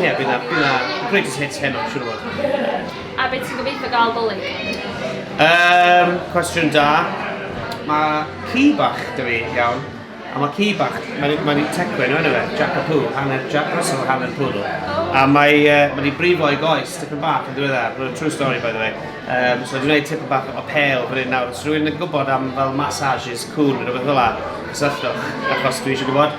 Ie, bydd na, bydd na greatest hits heno, siwr o fod. A beth ti'n gobeithio gael dolyg? Um, cwestiwn da. Mae ci bach dwi fi, iawn. A mae ci bach, mae'n ma tecwen o'n efe, Jack a Pooh, hanner Jack Russell, hanner Poodle. Oh. A mae uh, ma wedi brifo ei goes, tipyn bach yn diweddar, mae'n true story by the way. Um, so dwi'n gwneud tipyn bach o pel fan hyn nawr. Os rwy'n yn gwybod am fel massages, cŵn, rhywbeth fel la, cysylltwch, achos dwi eisiau gwybod.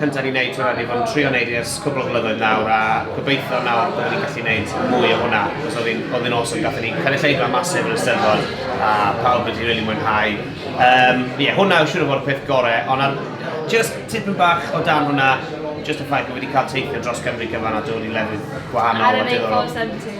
cyntaf ni'n neud hwnna, ni fod yn trio neud i ers cwbl o flynyddoedd nawr a gobeithio nawr bod ni'n gallu neud mwy o hwnna cos oedd hi'n awesome, gathon ni'n cael ei lleidfa masif yn y steddfod a pawb wedi really mwynhau um, yeah, hwnna yw siŵr o fod y peth gorau ond ar, just tipyn bach o dan hwnna just y ffaith bod wedi cael teithio dros Cymru cyfan a dod i lefydd gwahanol a diddorol.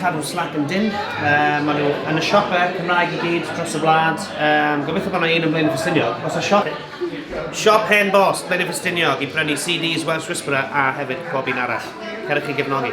Cadw slac yn dynn, uh, maen nhw yn y siope Cymraeg i gyd dros y wlad. Um, gobeithio bod yna un yn Blaen y Ffestiniog. Os y siop, siop hen bos Blaen y Ffestiniog i brynu CDs Welsh Whisperer a hefyd pob un arall. Cerwch chi gefnogi.